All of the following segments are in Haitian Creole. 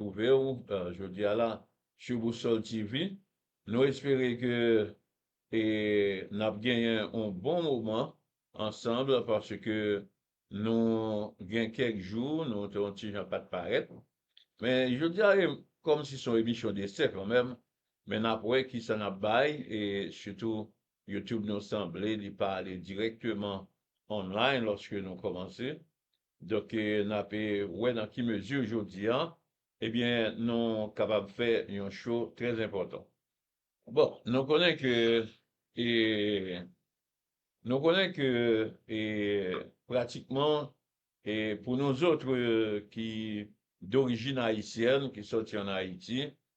twouve w jodi a la su Boussole TV. Nou espere ke e n ap genyen on bon moman ansanb paske nou gen kèk jou nou te on ti jan pa t parèt. Men jodi a e kòm si son emisyon desè kanmèm men n ap wè ki sa n ap bay e sitou YouTube nou sanble li pa ale dirèkteman online lòske nou kòmanse Donk n ap wè nan ki mezi jodi a ebyen nou kapab fè yon cho trè enpòtan. Bon nou konnen ke e nou konnen ke e pratikman e pou nou zotre ki dorijin ayisyèn ki sòti an Ayiti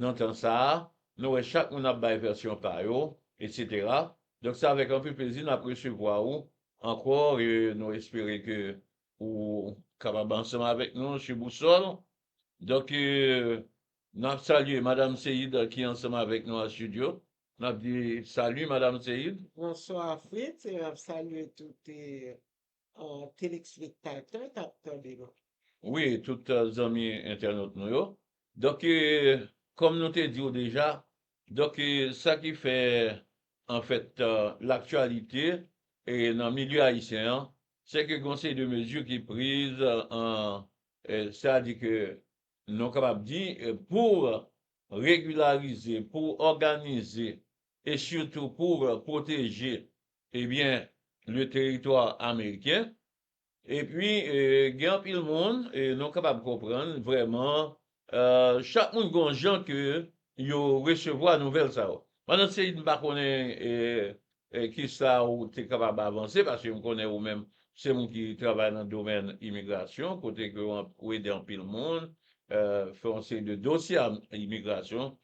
Nan tan sa a, nou wè chak moun ap bay vèsyon pa yo, etsetera. Donk se avèk anpil plezi nap resevwa ou ankò e nou espere ke ou kapab ansanm avèk nou sou bousòl. Donk nap salye Madam Seïd ki ansanm avèk nou an studio. Nap di Salut Madam Seïd. Bonswa Fritz e nap salye tout telespektatè k ap tande nou. Wi, tout zanmi entènot nou yo. Donk, kòm nou te di w deja, donk sa ki fè anfèt laktyalite nan milye ayisyen an, se ke gen yon seri de mezi ki priz, sa di ke nou kapab di pou regilarize, pou òganize e sitou pou pwoteje Ebyen, le territoire américain. Epi gen anpil moun nou kapab konprann vrèman chak moun gon jan ke yo resevwa nouvèl sa yo. Madan Seid m pa konnen kisa ou te kapab avanse paske m konnen ou menm se moun ki travay nan domèn imigrasyon kote ke ou ede anpil moun fè yon seri de dosye imigrasyon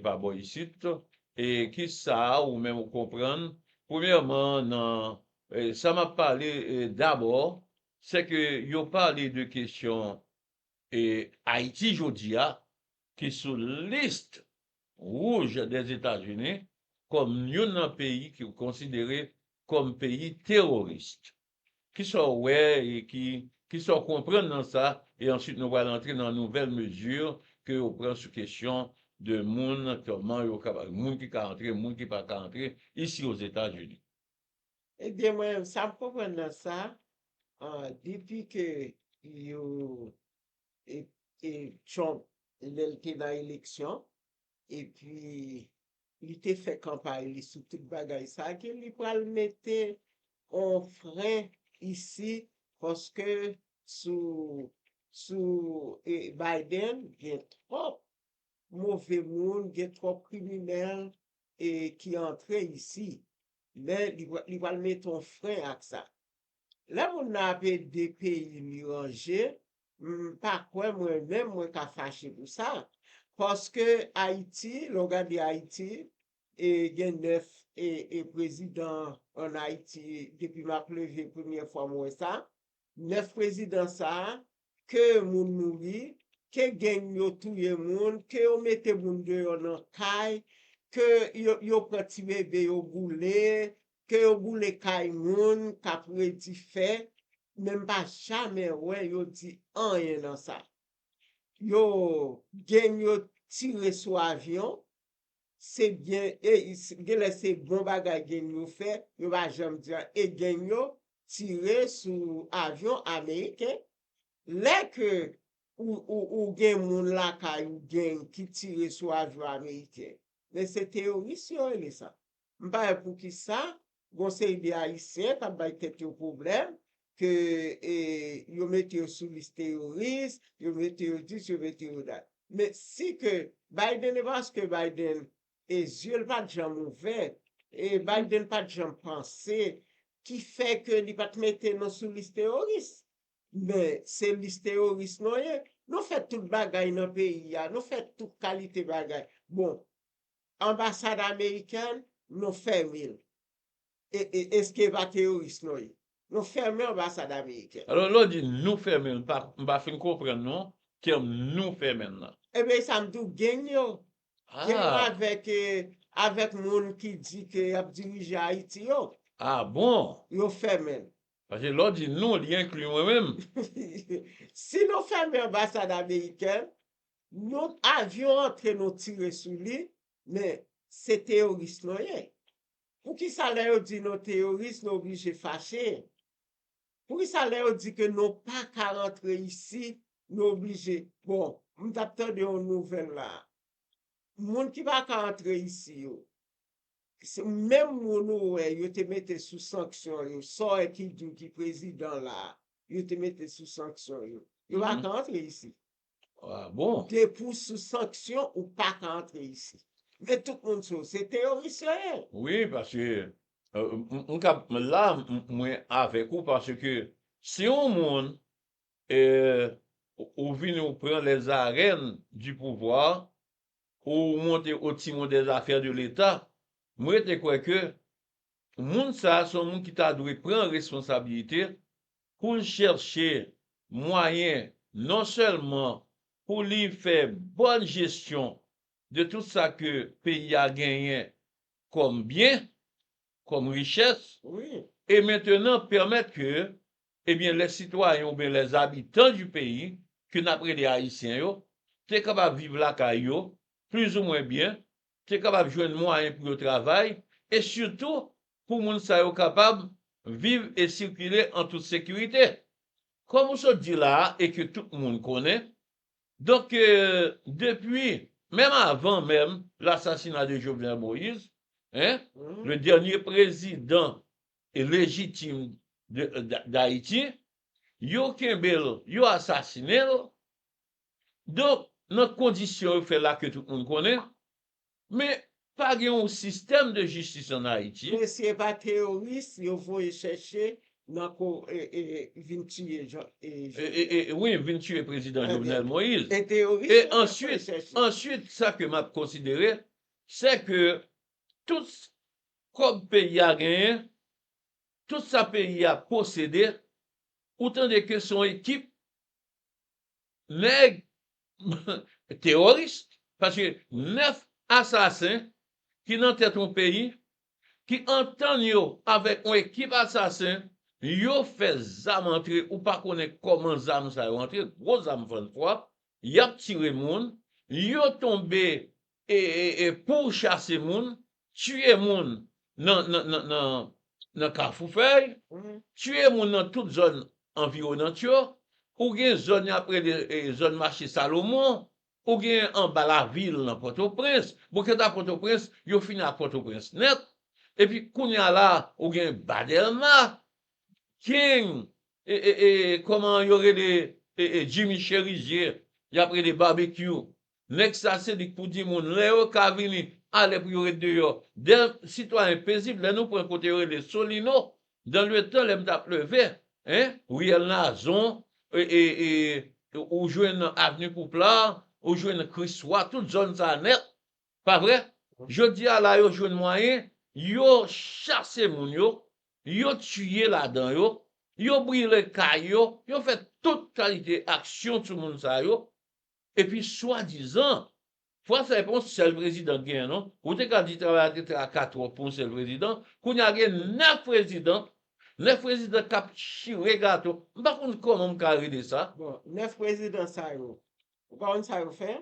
pa bò isit E ki sa ou menm ou konprann? Premyèman, nan sa m ap pale dabò, se ke yo pale de kesyon Ayiti jodi a ki sou list wouj Dèzetazini kòm youn nan peyi ki konsidere kòm peyi teworis. Kisa w wè e ki kisa w konprann nan sa e answit nou pral antre nan nouvèl mezi ke yo pran sou kesyon de moun kòman yo ka moun ki ka antre moun ki pa ka antre isi ozetazini. Ebyen mwen sa m konprann nan sa depi ke yo e e Trump lè l te nan eleksyon epi Li te fè kanpay li sou tout bagay sa ke li pral mete on fren isi paske sou sou Biden gen twòp move moun, gen twòp kriminèl e ki antre isi. Men li pral mete on fren ak sa. Lè moun nan ap ede peyi li ranje, M pa kwè mwen menm mwen ka fache pou sa, paske Ayiti, lè w gade Ayiti, gen 9 prezidan an Ayiti depi m ap leve premyè fwa m wè sa, 9 prezidan sa, ke moun mouri, ke geng yo touye moun, ke yo mete moun deyò nan kay, ke yo pran ti bebe yo boule, Ke yo boule kay moun kap redi fè men mpa jamè wè yo di anyen nan sa yo Gen yo tire sou avyon se Gen genlè se bon bagay Gen yo fè yo pa janm di anyen e Gen yo tire sou avyon ameriken lè ke ou ou Gen moun lakay ou Gen ki tire sou avyon ameriken men se teyoris yo rele sa. M pa wè poukisa gon seri de ayisyen kap bay tèt yo pwoblèm ke yo mete yo sou lis teyoris, yo mete yo dis, yo mete yo dat. Men si ke Biden e paske Biden e zye l pat janm ouvè, e Biden pat janm panse ki fè ke li pat mete nou sou lis teyoris. Men se lis teyoris nou ye. Nou fè tout bagay nan peyi a, nou fè tout kalite bagay. Bon, Anbasad amerikèn nou fèmil e eske va teoris nou ye nou fèmen anbasad amerikèn. Alò lè w di nou fèmen l m pa fin konprann non tèm nou fèmen l lan. Ebyen esa m di w geng yo. Geng yo avèk avèk moun ki di ke y ap dirije ayiti yo. A bon. Yo fèmen l. Paske lè w di nou li enkli mwen menm. Si nou fèmen anbasad amerikèn Yon avyon antre nou tire sou li men se teyoris nou ye poukisa lè yo di nou teyoris nou oblije fache poukisa lè yo di ke nou paka rantre isi nou oblije bon m tap tande yon nouvèl la moun ki paka antre isi yo se menm moun ou wè yo te mete sou sanksyon yo sa w wè ki di w ki prezidan la yo te mete sou sanksyon yo yo paka antre isi. Ah bon? Depi w sou sanksyon ou pa ka antre isi. Men tout moun sou se teyoris yo ye. Wi paske m ka la mwen avèk ou paske si yon moun ou vini ou pran les arèn di pouvwa ou monte au timon des afè de leta m rete kwè ke moun sa son moun ki ta dwe pran responsabilite pou l chèche mwayen non sèlman pou li fè bòn jesyon de tout sa ke peyi a genyen kòm byen, kòm richès, e mentenan pèmèt ke, ebyen, les citoyens oubyen les habitants du pays, ke n ap rele Ayisyen yo, te kapab viv lakay yo, plizoumwen byen, te kapab jwenn mwayen pou yo travay e sitou pou moun sa yo kapab viv e sikile an tout sekirite. Kòm ou sot di la a e ke tout moun konnen, donk depi menm avan menm l'assassinat de Jovenel Moïse, hein, le dernier président légitime d'Haïti, yo kenbe l, yo asasinen l, Donk, nan kondisyon yo fè la ke tout moun konnen, men pa gen yon sistèm de jistis an Ayiti. Mesye pa teoris yo voye chèche nan ko vin tiye Jovenel. Wi, vin tiye prezidan Jovenel Moïse. E teoris yo tap voye chèche. Answit, sa ke map konsidere, se ke tout kòb peyi a genyen, tout sa peyi a posede, ou tande ke son ekip nèg teworis paske 9 asasen ki nan tèt yon peyi ki antann yo avèk yon ekip asasen yo fè zam antre ou pa konnen kòman zam sa yo antre gwo zam fann fwa yap tire moun yo tonbe E pouw chase moun, tiye moun nan kafou fèy, tiye moun nan tout zòn anviwonant yo, ou gen zòn yap rele zòn mache salomon, ou gen anba lavil nan pòtoprens, bon kanta pòtoprens yo fini ak pòtoprens nèt, epi kounya la ou gen ba dèlma, king e kòman yo rele jimmy cherizye yap rele babekyou Nèg sa se li k pou di moun lè yo ka vini a lè pou yo ret deyò. Dè sitwayen pezib lè nou pran kote yo rele Solino dan le tan lè m t ap leve hein riyèl Nazon e ou jwenn avni Pouplar ou jwenn Kriswa tout zòn sa nèt pa vre jodi a la yo jwenn mwayen yo chase moun yo yo tiye ladan yo yo brile kay yo yo fè tout kalite aksyon sou moun sa yo. Epi swadizan, fwa sa e pa yon sèl prezidan k genyen non, ou te ka di travay la te traka twòp pou yon sèl prezidan, kounye a gen 9 prezidan, 9 prezidan k ap chire gato, m pa konn kòman m ka rele sa. Bon, 9 prezidan sa yo, ou pa konn sa yo fè?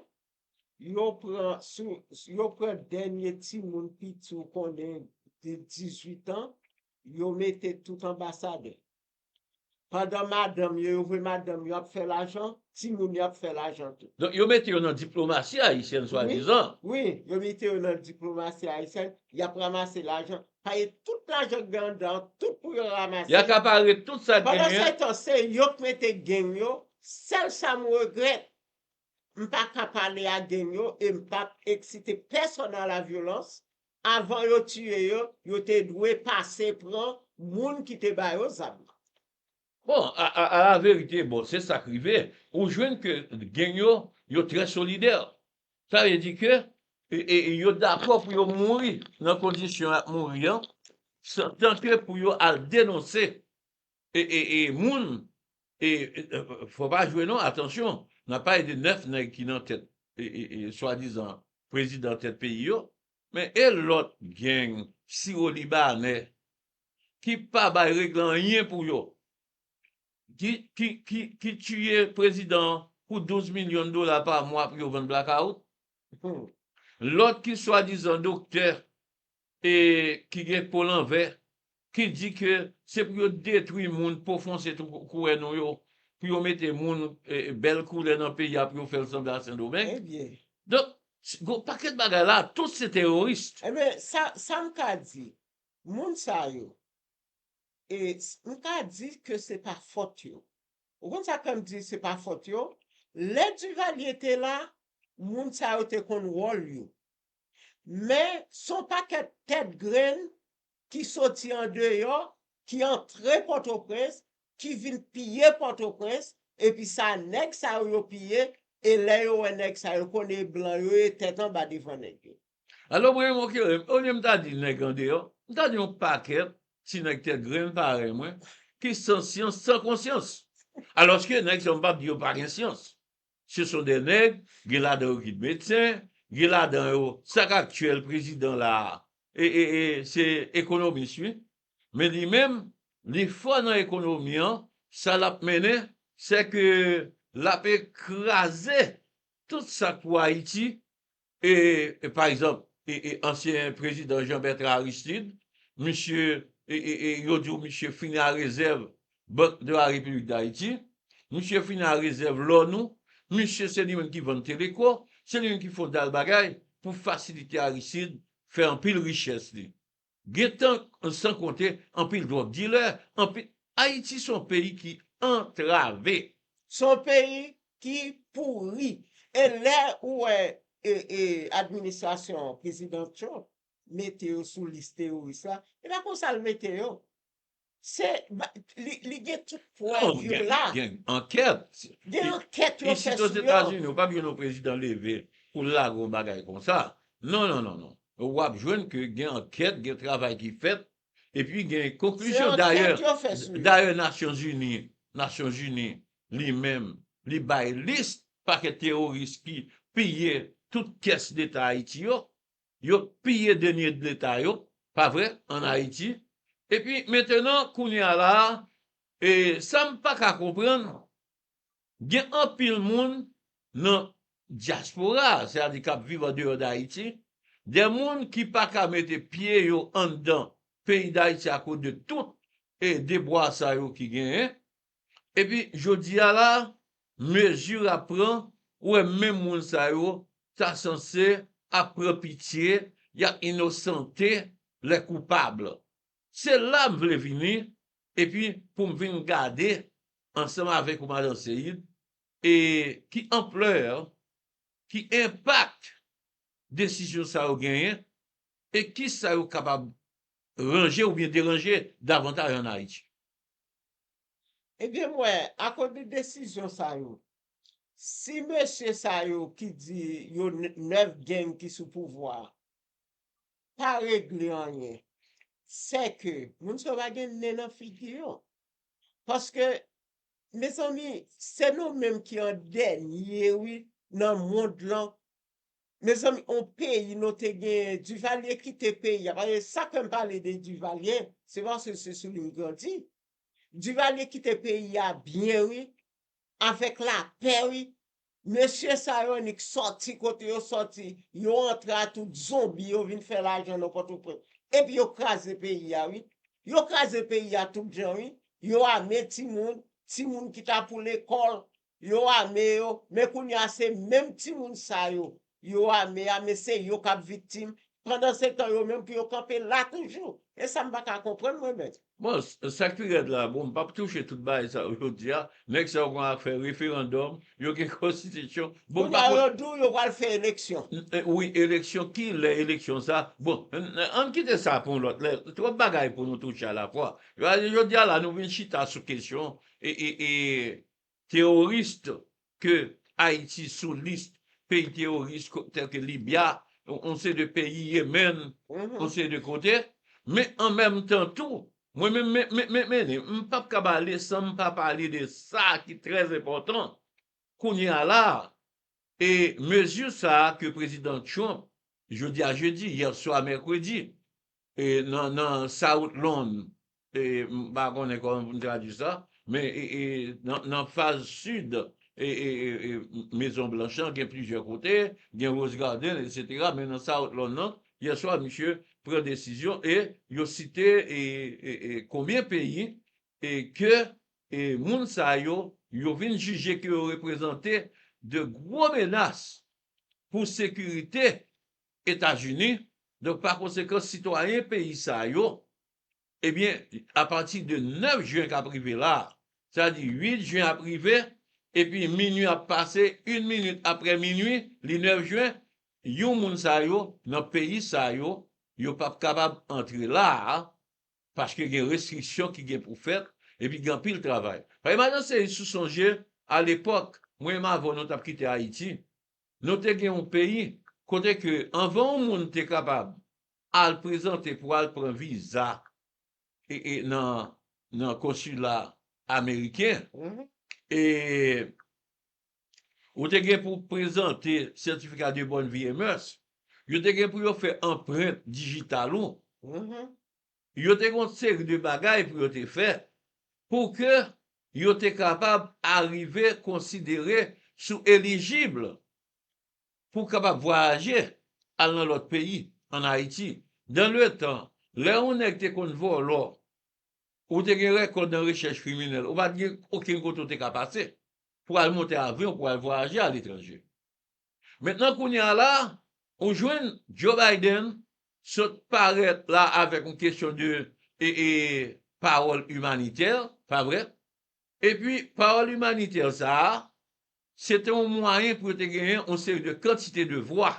Yo pran sou, yo pran dènye timoun piti ou konnen de 18 an, yo mete tout anbasadè. pandan madanm yo, yo vwe madanm yo ap fè lajan, ti moun yo ap fè lajan tou. Donk yo mete yo nan diplomasi ayisyèn swadizan. Wi, yo mete yo nan diplomasi ayisyèn, y ap ramase lajan, paye tout lajan k gen anndan an, tout pou yo ramase. Y akapare tout sa k genyen. Pandansetan, se yo k mete geng yo, sèl sa m regrèt, m pa ka pale a geng yo e m p ap eksite pèsòn a la vyolans, Avan yo tiye yo, yo te dwe pase pran moun ki te ba yo zam nan. Bon, alaverite, bon, se sa k rive. Ou jwenn ke geng yo, yo trè solidè. Sa vle di ke yo dakò pou yo mouri nan kondisyon y ap mouri an, tanke pou yo al denonse E moun e fò pa jwe non atansyon nap pale de 9 nèg ki nan tèt swadizan prezidan tèt peyi yo men e lòt gang siwolibanè ki pa bay regle anyen pou yo ki tiye prezidan pou 12 milyon dola pa mwa pou yo vann blakawout lòt ki swadizan doktè e ki gen po lanvè, ki di ke se pou yo detwi moun, po fonse tou koulè nou yo, pou yo mete moun bèl koulè nan peyi a pou yo fèl sanble a sendomeng. Donk gen yon pakèt bagay la, tout se teroris. Enben sa sa m ka di, moun sa yo, e m ka di ke se pa fòt yo. Ou konn sa k fè m di se pa fòt yo? Lè Duvalier te la, moun sa yo te konn wòl yo. Men, s on pakèt tèt grenn ki soti andeyò, ki antre Pòtoprens, ki vin piye Pòtoprens, epi sa nèg sa yo yo piye, e lè yo wè nèg sa yo konn e blan yo ye tèt anba devan nèg yo. Alò mwen yon kere m, olye m ta di nèg andeyò, m ta di yon pakèt ti nèg tèt grenn parèy mwen ki san syans san konsyans. Alòske nèg sa yo m p ap di yo pa gen syans. Se son de nèg, gen ladan yo ki t medsen, gen ladan yo, sak aktyèl prezidan la a, se ekonomis wi, men li menm li fò nan ekonomi an, sa lap mennen sè ke lap ekraze tout sak pou Ayiti, E pa egzanp, ansyen prezidan Jean Bertrand Aristide, misye, yo di w misye fini a rezèv Banque de la République d'Haïti, misye fini a rezèv lò nou, misye se li menm ki vann Teleco, se li menm ki fon dal bagay pou fasilite Aristide fè anpil richès li. Gen tank san konte anpil drug dilè, anpil Ayiti son peyi ki antrave. Son peyi ki pouri. E lè ou wè administrasyon prezidan Trump mete yo sou lis teworis la, e pa konsa l mete yo. Se li gen tout prèv yo la. Non, gen ankèt. Gen ankèt yo fè sou yo. Isit ozetazini ou pap jwenn yon prezidan leve pou l lage yon bagay konsa. Non, non, non, non. W ap jwenn ke gen ankèt, gen travay ki fèt, epi gen konklizyon. Se ankèt yo fè sou yo. Dayè Nasyonzini, Nasyonzini li menm li bay lis pakèt teworis ki piye tout kès leta Ayiti yo. Yo t piye deniye dleta yo pa vre an ayiti epi mentenan kounya la e sam paka konprann gen anpil moun nan dyaspora se a di kap viv an deyò dayiti de moun ki paka mete pye yo anndan peyi dayiti a koz de tout e debwa sa yo ki genyen Epi jodi a la mezi a pran ou wè menm moun sa yo ta sanse ap pran pitye y ap inosante lè koupab. Se la m vle vini epi pou m vin gade ansanm avèk ou madan Seïde e ki anplè, ki enpak desizyon sa yo genyen e kisa yo kapab ranje oubyen deranje davantaj an Ayiti. Ebyen m wè akoz de desizyon sa yo si mesye sa yo ki di yo 9 gang ki sou pouvwa a pa regle anyen sè ke moun sa yo pa gen nen nan figi yo paske mezanmi se nou menm ki an dènye wi nan mond lan Mezanmi on peyi non te genyen Duvalier kite peyi a paske sak fèm pale de Duvalier se paske se sou li m grandi Duvalier kite peyi a byen wi avèk lapè wi mesye sa yo annik sòti kote yo sòti yo antre a tout zonbi yo vin fè lajan nan pòtoprens epi yo kraze peyi a wi yo kraze peyi a tout jan wi yo ame timoun timoun ki ta pou lekòl Yo ame yo, men kounye a se menm timoun sa yo yo ame a men se yo kap viktim pandansetan yo menm pou yo kanpe la toujou e sa m pa ka konprann mwen mèt. Bon, sak pi rèd la, bon m pap touche tout bagay sa yo jodi a, nèg sa yo gen afè referandòm, yo gen konstitisyon, bon m pa konn. Kounye a yo di w yo pral fè eleksyon. Wi, eleksyon, ki lè eleksyon sa, bon ann kite sa pou yon lòt lè, twòp bagay pou nou touche alafwa. Jodi a la nou vin chita sou kesyon Teoris ke Ayiti sou lis peyi teoris tèlke Libya, yon seri de peyi Yemen, yon seri de kote. Men an menm tan tou, mwen menm Menemene, m pa p ka pale san m pa pale de sa ki trè enpòtan kounye a la a. E mezi sa a ke Prezidan Trump, jodi a jedi, yèswa mèkredi, Nan South Lawn, m pa konnen kòman pou m tradui sa, men nan faz sid Mezon Blanch lan gen plizyè kote, gen Rose Garden etsetera men nan South Lawn nan, yè swa misye pran desizyon e yo site konbyen peyi ke moun sa yo, yo vin jije ke yo reprezante de gwo menas pou sekirite Etazini, donk pa konsekan sitwayen peyi sa yo, ebyen apati de 9 jen kap rive la, sa di 8 jen ap rive epi minui ap pase, yn minit aprè minui li 9 jen, yon moun sa yo nan peyi sa yo, yo pap kapab antre la a, paske gen restriksyon ki gen pou fèt epi gen anpil travay. Paske madan Seyis ou sonje alepòk mwen m avèw nou tap kite Ayiti, Nou te gen yon peyi kote ke anvan yon moun te kapab al prezante pou al pran viza nan konsila ameriken, ou te gen pou prezante sètifika de bòn vi e mès, yo te gen pou yo fè anprent dijital ou, Yo te gen yon seri de bagay pou yo te fè pou ke yo te kapab arive konsidere si w elijib pou w kapab vwayaje al nan lòt peyi an Ayiti. Dan le tan, lè yon nèg te konn vòlò, ou te gen rèkòd nan rechèch kriminèl, ou pa t gen okenn kote ou te ka pase pou al monte avyon pou al vwayaje aletranje. Mentnan kounye a la, ou jwenn Joe Biden sot parèt la avèk yon kesyon de pawòl imanitè, pa vre? Epi pawòl imanitè sa a, se te yon mwayen pou yo te genyen yon seri de kantite de vwa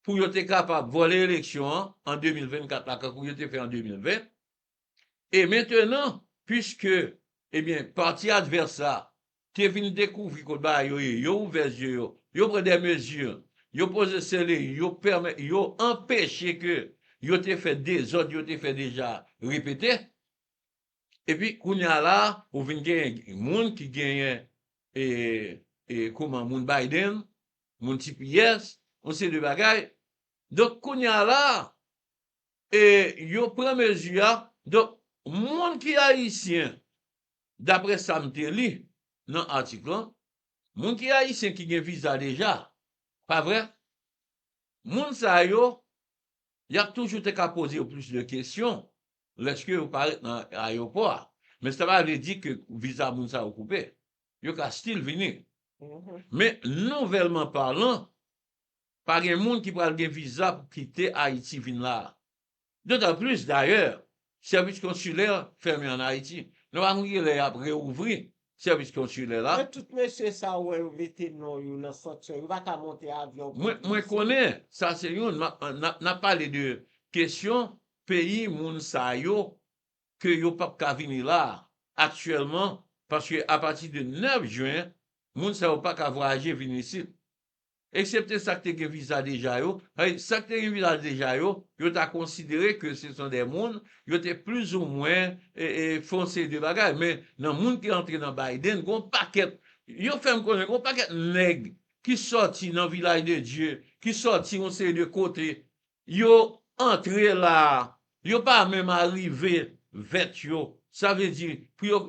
pou yo te kapab vòlè eleksyon an 2024 la kankou yo te fè an 2020, E mentenan, piske, ebyen, pati advès la te vin dekouvri kot bagay yo ye, yo ouvè zye yo, yo pran dè mezi, yo poze sele, yo pèmè, yo anpeche ke yo te fè dezòd yo te fè deja a repete. Epi, kounye a la a, ou vin genyen moun ki genyen, e, e, kouman, moun Biden, moun tps, yon seri de bagay. Donk, kounye a la a, e yo pran mezi a, donk moun ki ayisyen daprè sa m te li nan atik lan, moun ki ayisyen ki gen viza deja, pa vre? Moun sa yo, y ap toujou te ka poze yo plis de kesyon lèske yo parèt nan ayewopò a, men sa pa vle di ke viza moun sa yo koupe, yo ka stil vini. Men nouvèlman palan, Pa gen moun ki pral gen viza pou kite Ayiti vin la. Dotan plis, dayè, sèvis konsilè fèmen an Ayiti. Nou pa konn ki lè y ap rewouvri sèvis konsilè la. Men tout mesye sa ou wè yo mete non yo nan sanksyon, yo pa ka monte avyon pou vin isit. Mwen konnen, sa se youn, m ap, n ap, n ap pale de kesyon peyi moun sa yo ke yo p ap ka vini la a aktyèlman paske apati de 9 jen moun sa yo pa ka vwayaje vin isit. Eksepte sa k te gen viza deja yo, sètadi sa k te gen viza deja yo, yo ta konsidere ke se son dè moun, yo te plizoumwen fè yon seri de bagay. Men, nan moun ki antre nan Biden, gen yon pakèt, yo fè m konnen gen yon pakèt nèg ki sòti nan Vilaj de Dye, ki sòti yon seri de kote, yo antre la a, yo pa menm arive vèt yo, sa vle di pou yo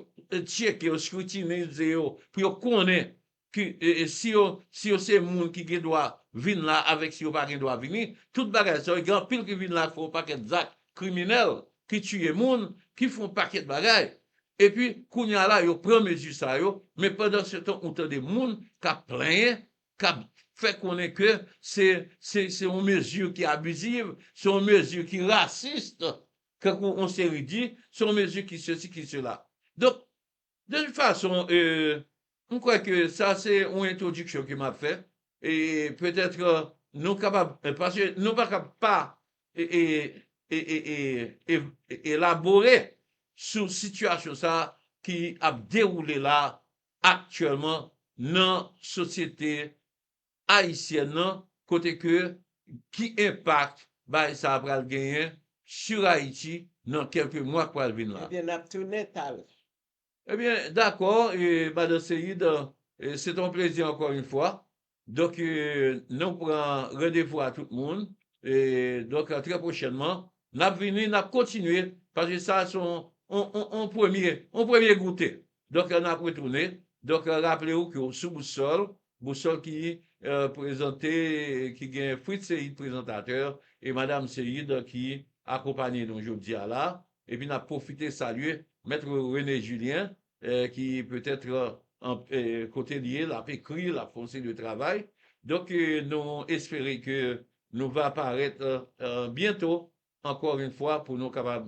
tcheke yo, skritinize yo, pou yo konnen Ki si yo si yo se moun ki gen dwa vin la avèk si yo pa gen dwa vini, tout bagay sa yo gen anpil ki vin la ki fè yon pakèt zak kriminèl, ki tiye moun, ki fè yon pakèt bagay. Epi kounye a la yo pran mezi sa yo, men pandansetan ou tande moun k ap plenyen, k ap fè konnen ke se se se yon mezi ki abiziv, se yon mezi ki rasist, tankou yon seri di, se yon mezi ki sesi ki sela. Donk De tout fason, m kwè ke sa se yon entwodiksyon ke m ap fè, e petèt nou kapab, paske nou pa kab pa elabore sou sitiyasyon sa a ki ap dewoule la aktyèlman nan sosyete Ayisyèn nan kote ke ki enpak bagay sa pral genyen sur Ayiti nan kelke mwa k pral vin la. Ebyen nap tounen talè. Ebyen dakò madan Seyid se te yon plezi ankò yon fwa donk nou pran randevou a tout moun donk trè pwochènman nap vini nap kontinye paske sa se yon premye goute Doktè nap retounen doktè raple ou ke ou sou boussol, boussol ki prezante ki gen Fritz Seïde prezantatè e madam Seïde ki akonpanye nou jodia la epi nap pwofite salye Maître René Julien ki petèt kote li ye lap ekri lap fè yon seri de travay donk nou espere ke nou va parèt byento ankò yn fwa pou nou kapab